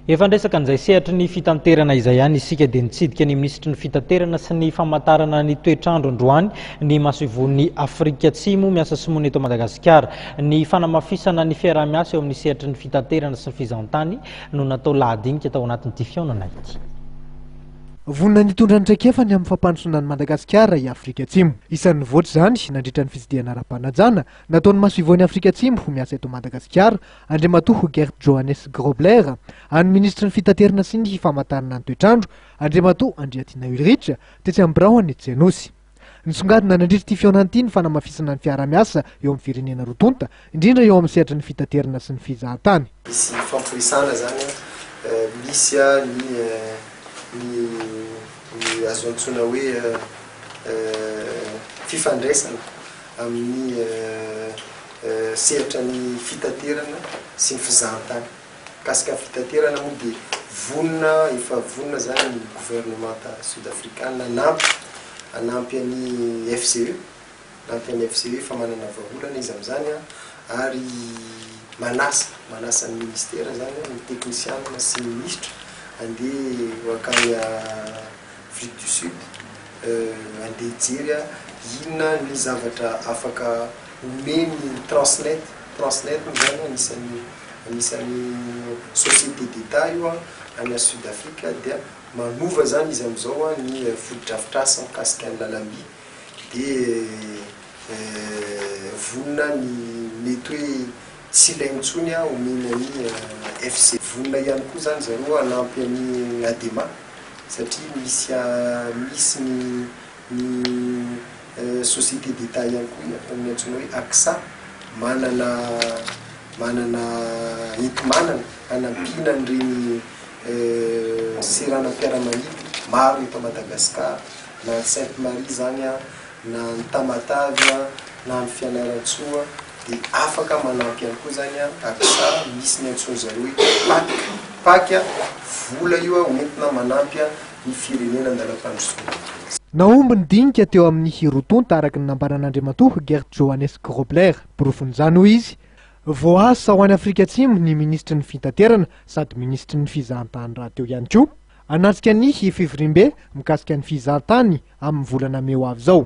Efa niresaka an'izay sehatry ny fitanterana izay ihany isika dia nitsidika ny minisitry ny fitaterana sy ny famantarana ny toetr'andro androany ny masoivohon'ny Afrika Atsimo miasa simoana eto Madagasikara. Ny fanamafisana ny fiaraha-miasa eo amin'ny sehatry ny fitaterana sy ny fizahantany no natao lahadinika tao anatin'ity fihaonana ity. Vonona ny hitondra ny traikefany amin'ny fampandrosoana an'i Madagasikara i Afrika Atsimo. Isan'ny nivoatra izany nandritra ny fitsidihana ara-panajana nataon'ny masoivohon'i Afrika Atsimo miasa eto Madagasikara Andriamatoa Hogert Johannes Grobler, an'ny Minisitry ny Fitaterana sy ny Famantarana ny Toetr'andro, Andriamatoa Andriatina Ulrich, tetsy amin'ny biraon'ny Jenosy. Nisongadina nandritra ity fihaonana ity ny fanamafisana ny fiaraha-miasa eo amin'ny firenena roa tonta, indrindra eo amin'ny sehatry ny fitaterana sy ny fizahantany. Misy hifampiresahana izany an, misy ny ny ny azo antsoina hoe fifandraisana. amin'ny sehatra ny fitaterana sy ny fizahantany. Mikasika ny fitaterana moa dia vonona, efa vonona izany ny governemanta Sud Afrikana hanampy, hanampy an'i FCE, hanampy an'i FCE, efa manana vahaolana izy amin'izany ary manasa, manasa ny Ministera izany, ny teknisianina sy ny Minisitra handeha ho hankany Afrique du Sud. Euh, andeha hijery aho inona ny zavatra afaka omen'ny Transnet, Transnet moa zany anisan'ny anisan'ny société d'Etat io an, any Sud Afrika dia manova zany izy amin'izao an ny fotodrafitrasa mikasika ny lalamby dia euh, vonona ny mety hoe. Tsy ilainy intsony aho mino an'i FC. Vonona ihany koa izany zareo hanampy an'i Adema satria misy misy ny ny société d'état ihany koa efa ny antsoina hoe ACSA manana manana enti-manana hanampiana an'ireny seranam-piaramanidina maro eto Madagasikara na any Sainte Marie izany na any Tamatave na any Fianarantsoa. Dia afaka manampy ihany koa izany an, ary sa misy ny antsoin'ny zareo hoe pac, pac an, vola io an, hoentina manampy an, ny firenena an-dalam-pandrosoana. Nahomby ny dinika teo amin'ny hirotonta araka ny nambaran'Andriamatoa Geert Johannes Grobler. Porofon'izany, hoy izy, voaasa ho any Afrika Atsimo ny minisitry ny Fitaterana sady minisitry ny Fizahantany rahateo ihany koa, hanatrika ny fivoriambe mikasika ny fizahantany amin'ny volana mey ho avy izao.